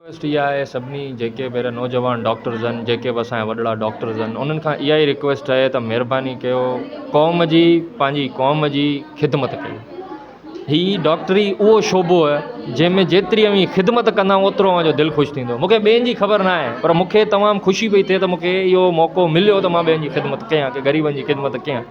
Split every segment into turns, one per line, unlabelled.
Request اها آهي سڀني جيڪي به اهڙا نوجوان ڊاڪٽرز آهن جيڪي به اسان جا وڏڙا ڊاڪٽرز آهن انهن کان اها ئي رڪويسٽ آهي ته مهرباني ڪيو قوم جي پنهنجي قوم جي خدمت ڪيو هي ڊاڪٽري اهو شعبو آهي جنهن ۾ جيتري اوهين خدمت ڪندا اوترو اوهان جو دل خوش ٿيندو مونکي ٻين جي خبر نه آهي پر مونکي تمام خوشي پئي ٿئي ته مونکي اهو موقعو مليو ته مان ٻين جي خدمت ڪيان ڪي غريبن جي خدمت ڪيان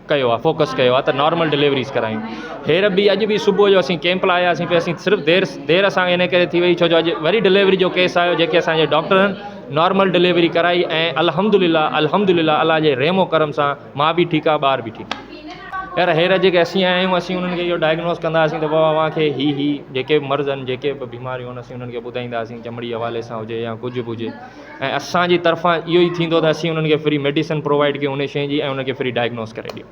ڪيو آهي فوڪس ڪيو آهي ته نارمل ڊليوريز ڪرايون هير به اڄ به صبح جو اسين ڪيمپ لاء آياسين پي اسين صرف دير دير اسانکي ان ڪري ٿي وئي ڇو جو اڄ وري ڊليوري جو ڪيس آيو جيڪي اسانجي ڊاڪٽرن نارمل ڊليوري ڪرائي ۽ الحمدلله الحمدلله الله جي رحم و ڪرم سان ماء به ٺيڪ آهي ٻار به ٺيڪ هير هير جيڪي اسين آيا آهيون اسين انهن کي اهو ڊائگنوز ڪنداسين ته بابا اوهان کي هي هي جيڪي به مرض آهن جيڪي به بيماريون آهن اسين انهن کي ٻڌائينداسين چمڙي حوالي سان هجي يا ڪجهه به هجي ۽ اسان جي طرفان اهو ئي ٿيندو ته اسين انهن کي فري ميڊيسن پرووائيڊ ڪيون ان شين جي ۽ انهن کي فري ڊائگنوز ڪري ڏيون.